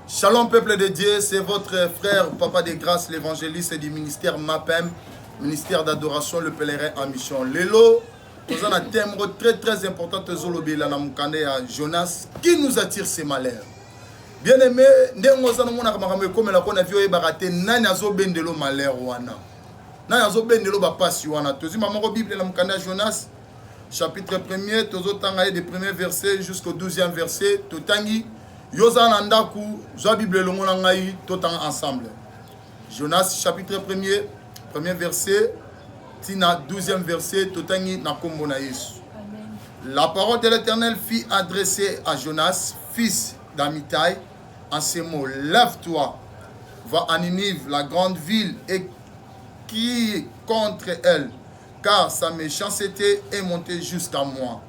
Shalom peuple de Dieu, c'est votre frère Papa de Grâce, l'évangéliste du ministère MAPEM, ministère d'adoration, le pèlerin en mission. Lelo, nous avons un thème très très important, Tezolobi la Namoukane à Jonas, qui nous attire ces malheurs. Bien aimé, ndenge oza na mona makambo ekomela ko na vie oyebaka te nani azobendelo malheur wana nani azobendelo bapasi wana tozwi mamoko bible na mokanda ya jonas chapitre 1er tozotanga ye de premier verset jusqu'au 12e verset totangi to Yo za na ndaku, zwa Bible elongo na ngai, totanga ensemble. Jonas chapitre 1er, premier verset, tina 12e verset, totangi na kombo na Yesu. La parole de l'Éternel fit adresser à Jonas, fils d'Amitai, en ces mots, lève-toi, va à Ninive, la grande ville, et crie contre elle, car sa méchanceté est montée jusqu'à moi.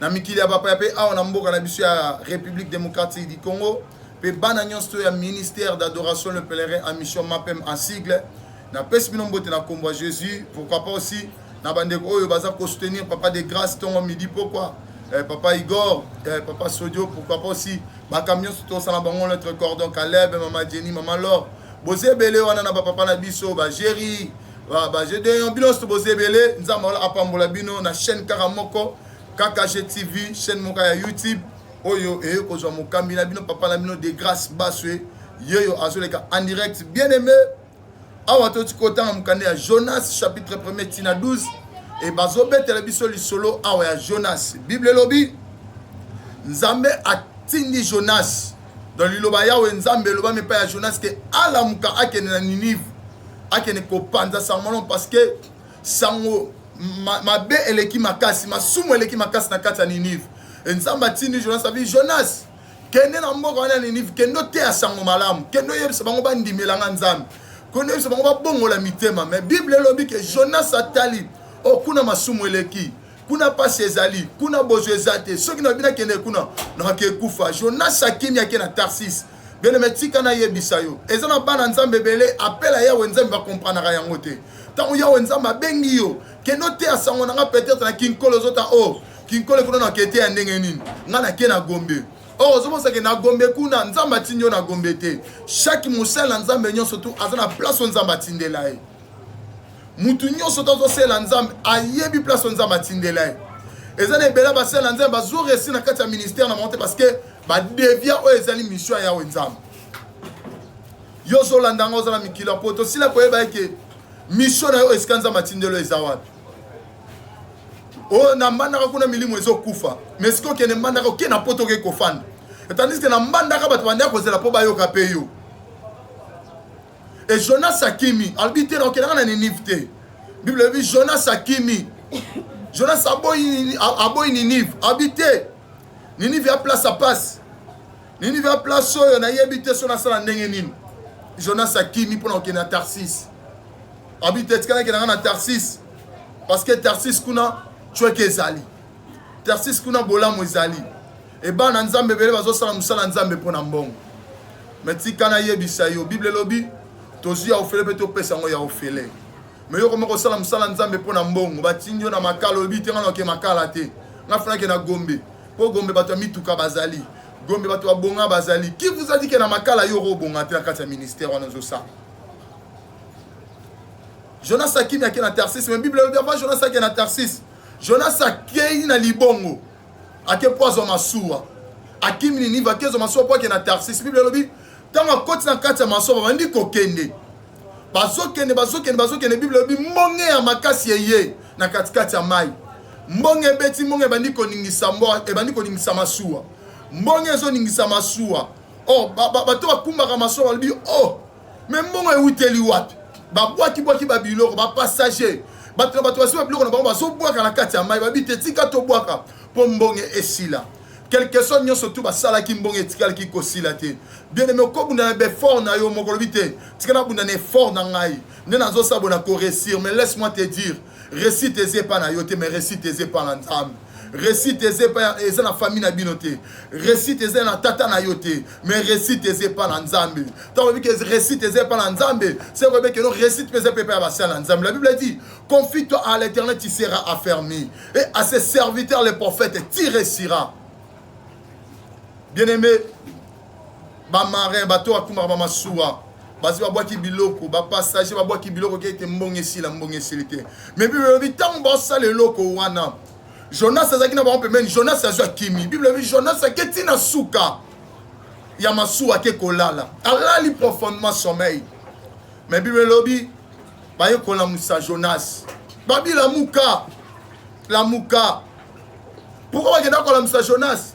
na mikili ya bapaya mpe awa na mboka na biso ya république démocratique du congo mpe bana nyonso to ya ministère d'adoration le pèlerin à mission mapem en sigle napesi bino mbote na nkombo ya jésus pourquoi pas aussi na bandeko oyo baza kosoutenir papa de grâce ntongo midi pokwa eh, papa igor eh, papa sodio pourquoi pas aussi bakambi nyonso tosala bango notre cordon caleb mama jenny mama lor boza ebele wana na bapapa na biso bagéri Ah, ba jeux de bino nyonso boza ebele nzambe wala apambola bino na chaîne kaka moko kkg tv chaîne moko ya youtube oyo eye kozwa mokambi na bino papa na bino de grâce baswe yeyo azoleka en direct bien aimé awa toti kotanga mokanda ya jonas chapitre 1er tina 12 e bazobetela biso lisolo awa ya jonas bible elobi nzambe atindi jonas Donc liloba Yawe Nzambe elobami epai ya Jonas ke alamuka akende na Ninive akende kopanza sango malamu parce que sango mabe ma eleki makasi masumu eleki makasi na kati ya Ninive e Nzambe atindi Jonas abi Jonas kende na mboka wana ya Ninive kende oteya sango malamu kende oyebisa bango bandimela nga Nzambe kende oyebisa bango babongola mitema mais Bible elobi ke Jonas atali okuna oh, masumu eleki kuna mpasi ezali kuna bozwi eza te soki nalobi nakende kuna nakake ekufa jonas akimi ake na tarsis beleme tika nayebisa yo eza na bana nzambe ebele apela yawe nzambe bakompranaka yango te ntango yawe nzambe abengi yo kende oteya sango na nga peut-être na kinkolo ozota o oh, kinkolo ekuna na kete ya ndenge nini nga nake na gombe or oh, ozomosake na gombe kuna nzambe atindi yo na gombe te chaque mosali na nzambe nyonso tu aza na place oyo nzambe atindela ye mutu nyonso oyo azosela nzambe ayebi place oyo nzambe atindela ye eza na ebele basela nzambe bazoresi na kati ya ministère na bango te parce que badevia oyo ezali mission ya yawe nzambe yo ozolanda yango oza na mikili ya poto osila koyeba eke mission na yo esika nzambe atindelo eza wapi oyo oh, na mbandaka kuna milimo ezokufa me soki okende mbandaka oke na poto oke kofanda etandiske na mbandaka bato bandaki kozela mpo bayoka mpe yo e jonas akimi alobi te naokendaka na ninive te bible elobi jonas akimi jonas aboyi ninive alobi te ninive ya place ya pasi ninive ya place oyo nayebi te so nasala ndenge nini jonas akimi mpo na kokende na tarsis alobi te etikala kendaka na tarsis parce que tarsis kuna cweke ezali Tarsis kuna bolamu ezali. E bana Nzambe ebele bazosala mosala Nzambe mpo na mbongo. Me tika nayebisa yo, Bible elobi tozwi ya ofele mpe topesa yango ya ofele. Me yo koma kosala mosala Nzambe mpo na mbongo, batindi yo na makala, olobi te nga nake makala te, nga fanake na Gombe mpo Gombe bato ya mituka bazali, Gombe bato ya bonga bazali. Qui vous a dit que na makala yo okobonga te na kati ya ministère wana ozosala? Jonas akimi ake na Tarsis, me Bible elobi avant Jonas ake na Tarsis Jonas akei na libongo, ake mpo azwa masuwa, akimi Ninive, akezwa masuwa mpo ake na Tarsis. Biblia elobi ntango akoti na kati ya masuwa, babandi kokende, bazokende, bazokende, bazokende. Biblia elobi mbonge ya makasi eye na katikati ya mai, mbonge ebeti, mbonge ebandi koningisa mboa, ebandi koningisa masuwa, mbonge ezoningisa masuwa. Oh, bato bakumbaka masuwa balobi oh me mbongo ewuteli wapi babwakibwaki babiloko bapassager bato na bato basi babiloko na bango bazobwaka na kati ya mai babi te tika tobwaka mpo mbonge esila quelque soit nyonso tu basalaki mbongo etikalaki kosila te bieneme okobunda na befort na yo moko olobi te tika nabunda na effort na ngai nde nazosabo na koresir mais laisse moi te dire resite eza epa na yo te mais resite eza epa na nzambe resite eza epa eza na famille na bino te resite eza na tata na yo te mais resite eza epa na nzambe ntango oyebi ke resite eza epa na nzambe se oyebi keno resite mpe eza mpe epa ya basala na nzambe la bible dit confie toi à l'éternel tu seras affermi et à ses serviteurs les prophètes tu réussiras bien aimé bamarin bato oyo bakumaka bamasuwa basi babwaki biloko bapassage babwaki biloko ke ete mbongo esila mbongo esili te mais bible elobi ntango baosala eloko wana jonas azalaki na bango pembeni jonas azwi akimi bible elobi jonas ake ti na suka ya masuwa ake kolala alali profondement sommeil mais bible elobi baye kolamusa jonas babi lamuka lamuka pourkoi bakenda kolamusa jonas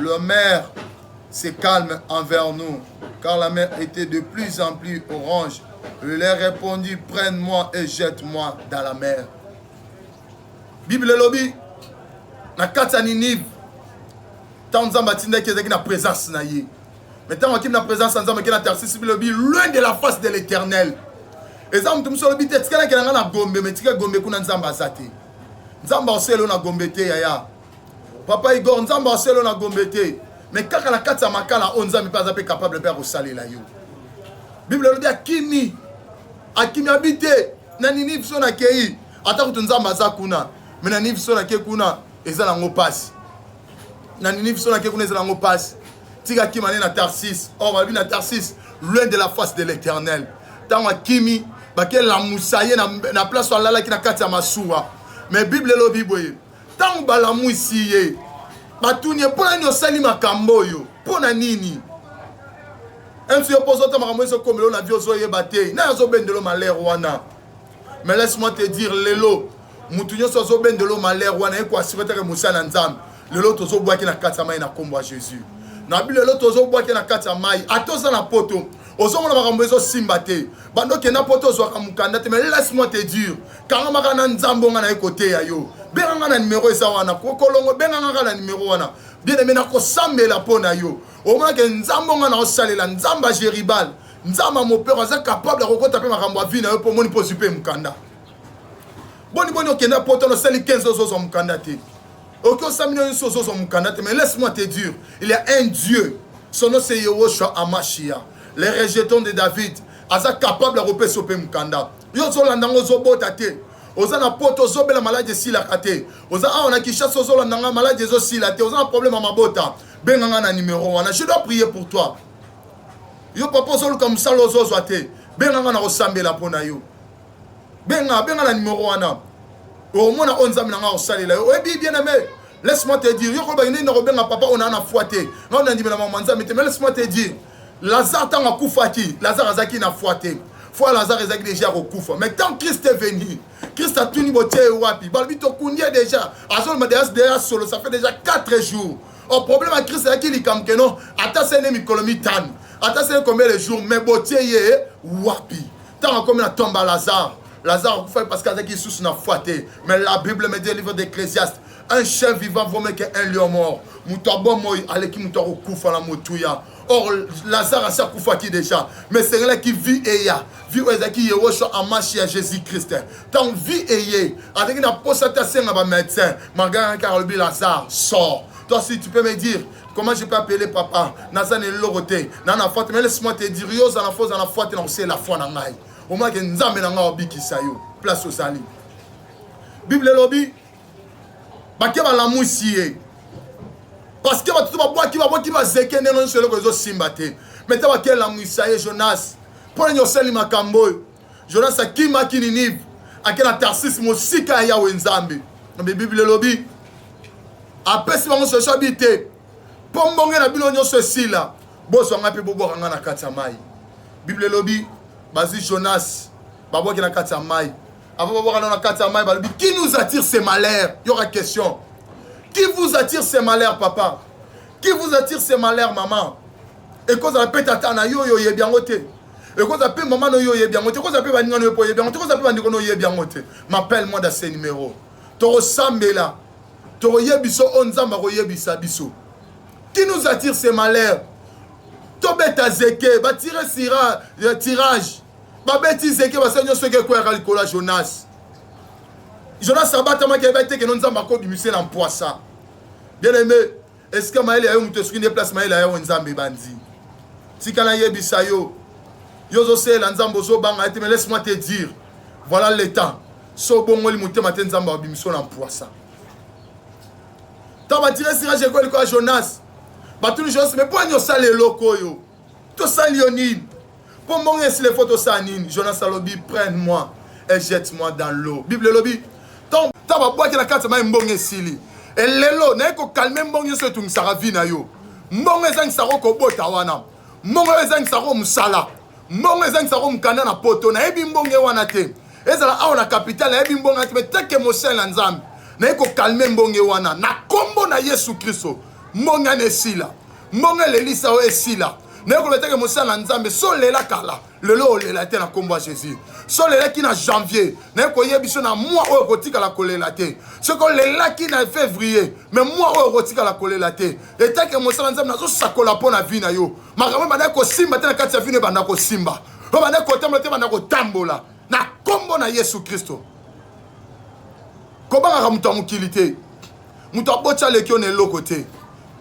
Le maire se calme envers nous, car la mer était de plus en plus orange. Je lui ai répondu, prenne-moi et jette-moi dans la mer. Bible elobi na kati ya Ninive, ntango Nzambe atindaki ezalaki na présence na ye. Mais ntango akimi na présence ya Nzambe akei na Tarsis, Bible elobi loin de la face de l'Éternel. eza moto mosu alobi te tikalaki na ngai na gombe me tika gombe kuna nzambe aza te nzambe aosi elo na gombe te yaya papa igor nzambe aselo na gombe te me kaka na kati ya makala oyo nzambe mpe aza mpe capable mpe akosalela yo bible elobi akimi akimi abi te na ninive so nakei ata kutu nzambe aza kuna me na ninive so nakei kuna eza nango mpasi na ninive so nakei kuna eza nango mpasi tika akima ne na tarsis or babi na tarsis loin de la face de l'éternel ntango akimi bakelamusa ye na place alalaki na kati ya masuwa me bible elobi boye Ntango balamwisi ye, batuni ye mpo na nini osali makambo oyo, mpo na nini msi yo mpo ozota makambo ezokomelo na vie ozoyeba te naye azobendelo malere wana mais laisse moi te dire lelo motu nyonso azobendelo malere wana ye koasure teke mosala ya nzambe lelo tozobwaki na kati ya mai na nkombo ya jésus na bino lelo tozobwaki na kati ya mai ata oza na poto ozomona makambo ezosimba te bando okenda poto ozwaka mokanda te mais laisse moi te dire kangama kaka na nzambe onga naye koteya yo benga nga na nimero eza wana kokolongo benga nga kaka na nimero wana bien aime nakosambela mpo na yo omonake nzambe onga naosalela nzambe ya geribal nzambe ya mopero aza kapable ya kokota mpe makambo ya vi na yo mpo omoni mpo ozwi mpe mokanda boni boni okenda poto nosali 15 ozozwa mokanda te oki osami no nyonso ozozwa mokanda te mais laisse moi te dire il y a un dieu son nom c'est yehoshua amashia les rejetons de david aza capable ya kopesa yo mpe mokanda yo ozolanda yango ozobota te oza na poto ozobela maladi esilaka te oza awa na kinshasa ozolanda ngai maladi ezosila te oza na problème ya mabota benga ngai na numero wana je dois prier pour toi yo papa ozoluka mosala ozozwa te benga ngai na kosambela mpo na yo benga benga na numero wana omona oyo nzambe na ngai akosalela yo oyebi bien aime laisse moi te dire yo koloba nini nakobenga papa oyo naa na foi te ngai nandimela mama nzambe te mais laisse moi te dire Lazare ntango akufaki, Lazare azalaki na foi te. Foi ya Lazare ezalaki deja ya kokufa. Mais tant Christ est venu, Christ atuni botie ye wapi? Balobi tokundi ye deja. Azoloba deja deja solo, ça fait déjà 4 jours. Au problème ya Christ ezalaki likambo ke non, ata se ne mikolo mitano, ata se ne combien de jours, mais botie ye wapi? Ntango akomi na tomba Lazare, Lazare akufaki parce que azalaki lisusu na foi te. Mais la Bible me dit au livre d'Ecclésiaste, un chien vivant vaut mieux qu'un lion mort moto abomoi aleki moto akokufa na motuya or lazare asi akufaki déjà mais esengelaki vie eya vie oyo ezalaki yehoshua amashi ya jésus christ ntango vie eye azalaki na mposa te asenga bamédecin margana kaka alobi lazare sort toi si tu peux me dire comment je peux appeler papa naza na eloko te na na fwate mais laisse moi te dire yo oza na fo oza na fwate na kosela fwa na ngai omonake nzambe na ngai obikisa yo place ozali bible elobi bake balamwisi ye parceke bato to babwaki babwaki bazeke ndenge nyonso eloko ezosimba te me te bake elamwisa ye jonas mpo nini osali makambo oyo jonas akimaki ninive ake na tarsis mosika ya yawe nzambe nabe biblia elobi apesi bango solution abi te mpo mbonge na bino nyonso esila bozwa ngai mpe bobwaka ngai na kati ya mai biblia elobi bazwi jonas babwaki na kati ya mai avant babwaka no na kati ya mai balobi qui nous attire ces malheurs yoka question qui vous attire ces malheurs papa qui vous attire ces malheurs maman ekozala mpe tata na yo oyo oyebi yango te ekozala mpe mama na yo oyebi yango te ekozala mpe baninga na yo mpe oyebi yango te ekozala mpe bandeko na oyebi yango te m'appelle moi da ce numéro tokosambela tokoyebisa oyo nzambe akoyebisa biso qui nous attire ces malheurs tobeta zeke batire euh, tirage babeti nzeke basali nyonso eke ekweyaka likolo ya jonas jonas abatamaki ayebi te keno nzambe akobimisa na mpwasa bien aime esika mayele ya yo moto esuki nde place mayele ya yo nzambe ebandi tika nayebisa yo yo ozosalela nzambe ozobanga ete mais laisse moi te dire voilà le temps so obongoli motema te nzambe abimiso na mpwasa ntango batire sirage ekoyeli koya jonas batuni jonas me mpo ani osala eloko oyo tosali yo nini mpo mbongo esila efo tosala nini jonas alobi prenne moi et jette moi dans l'eau bible elobi ntango babwaki na kati ya mai mbongo esili elelo naye kokalme mbongo nyonso etungisaka vi na yo mbongo ezangisaka okobota wana mbongo oyo ezangisaka o mosala mbongo ezangisaka o mokanda na poto nayebi mbongo ye wana te ezala awa na kapitale nayebi mbongo te meteke mosele na nzambe naye kokalme mbongo ye wana na nkombo na yesu kristo mbongo ana esila mbongo elelisa yo esila naye koloba teke mosala na nzambe so lela kala lelo olela te na nkombo ya jésus so olelaki na janvier naye koyebi so na mwa oyo okotikala kolela te soki olelaki na février me mwa oyo okotikala kolela te etake mosala nzambe nazosakola mpo na vi na yo makambo ebanda kosimba te na kati ya vino ebanda kosimba oyo banda kotambola te banda kotambola na nkombo na yesu kristo kobangaka moto ya mokili te moto aboti aleki yo na eloko te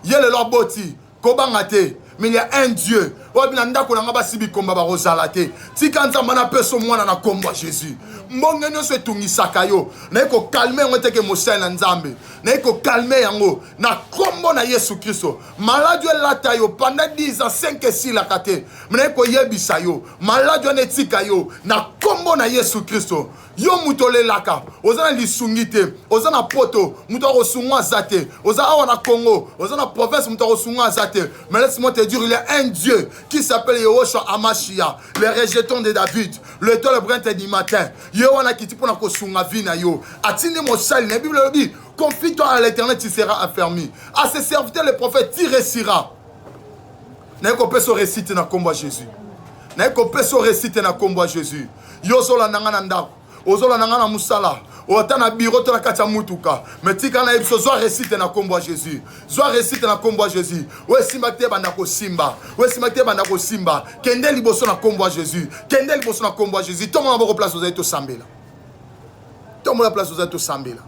ye lelo aboti kobanga te mais il y a un dieu oyo na ndako na ngai basi bikomba bakozala te tika nzambe na peso mwana na nkombo ya jésus mbonge nyonso etungisaka yo naye kokalme yango teke mosali na nzambe naye kokalme yango na nkombo na yesu kristo maladi elata yo panda 10 ans 5 esilaka te naye koyebisa yo maladi wana etika yo na nkombo na yesu kristo yo moto olelaka oza na lisungi te oza na poto moto akosungwa aza te oza awa na congo oza na province moto akosungwa aza te mais laisse-moi te dire il y a un dieu qui s'appelle yehoshua amashia le rejeton de david le tole brente du matin ye wana akiti mpo na kosunga vi na yo atindi mosali na bible elobi confie-toi à l'éternel tu seras affermi à ses serviteurs le prophète tu resira naye kopesa oresite na nkombo ya jésus naye kopesa oresite na nkombo ya jésus yo ozolanda nga na ndako ozolanda nga na mosala ota na biro to na kati ya mutuka me tika na ye biso zwa resite na nkombo ya jésus zwa resite na nkombo ya jésus oyo esimba te banda kosimba oyo esimba te banda kosimba kende liboso na nkombo ya jésus kende liboso na nkombo ya jésus tomona boko place ozali tosambela tomona place ozali tosambela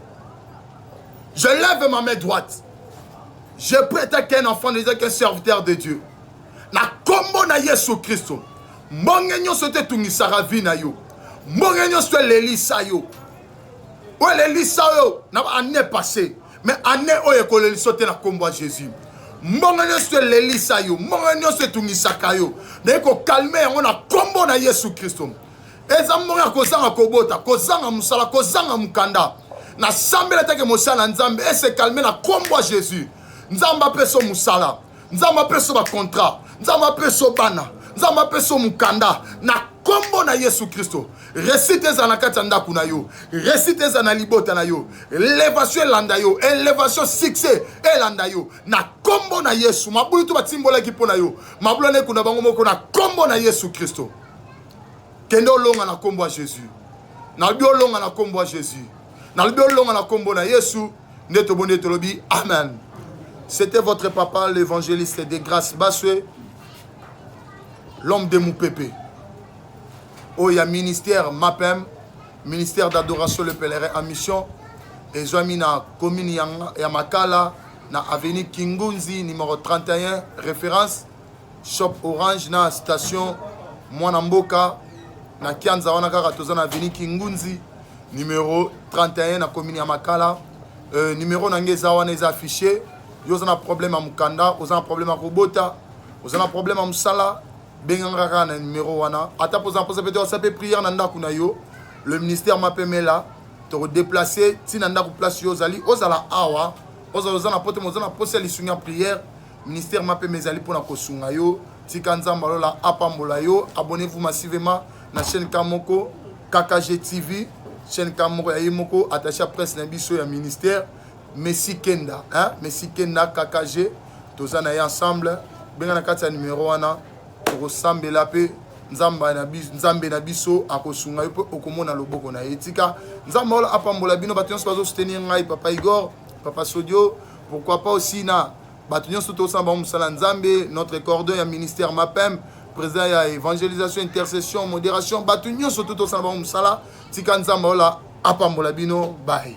je lève ma main droite je prête qu'un enfant ne qu'un serviteur de dieu na nkombo na yesu kristo mbonge nyonso te etungisaka vi na yo mbonge nyonso elelisa yo oyo elelisa yo na baannee passé mais annee oyo ekolelisa te na nkombo ya jésus mbongo nyonso elelisa yo mbongo nyonso etungisaka yo naye kokalme yango na nkombo na yesu kristo eza mbongo ya kozanga kobota kozanga mosala kozanga mokanda nasambela take mosala na nzambe esekalme na nkombo ya jésus nzambe apeso mosala nzambe apeso bacontrat nzambe apeso bana nzambe apeso mokanda na nkombo na yesu kristo resite ezala na kati ya ndako na yo resite ezala na libota na yo elevation elanda yo elevation succès elanda yo na nkombo na yesu mabulu to batimbolaki mpo na yo mabulu wana ekunda bango moko na nkombo na yesu kristo kende olonga na nkombo ya jésus nalobi olonga na nkombo ya jésus nalobi olonga na nkombo na yesu nde toboni ete olobi amen c'était votre papa l'évangéliste de grâce baswe l'homme de mupepe oyo oh, ya ministère mapem ministère d'adoration le pèlerin en mission ezwami na commune ya, ya makala na avenue kingunzi numéro 31 référence shop orange na station mwana mboka na kianza wana kaka toza na avenue kingunzi numero 31 na commune ya makala euh, numero na ngai eza wana eza affiche yo oza na problème ya mokanda oza na problème ya kobota oza na problème ya mosala benganga kaka na numero wana ata mpoza mposa mpe te osa mpe prière na ndako na yo le ministère mapemela tokodeplace nti na ndako place yo ozali ozala awa ozala oza na poto oza na mposa ya lisungi ya prière ministère mapema ezali mpo na kosunga yo tika nzambe alola apambola yo abonnez-vous massivement na chaîne ka moko kkg tv chaîne ka moko ya ye moko attaché ya presse na biso ya ministère messi kenda hein? messi kenda kkg toza na ye ensemble benga na kati ya numero wana tokosambela mpe nzambe na biso akosunga yo mpe okomona loboko na ye tika nzambe ola apambola bino bato nyonso bazosoutenir ngai papa igor papa sodio pourquoi pas aussi na bato nyonso tosala bango mosala ya nzambe notre cordon ya ministère mapem président ya évangélisation intercession modération bato nyonso to tosala bango mosala tika nzambe ola apambola bino baye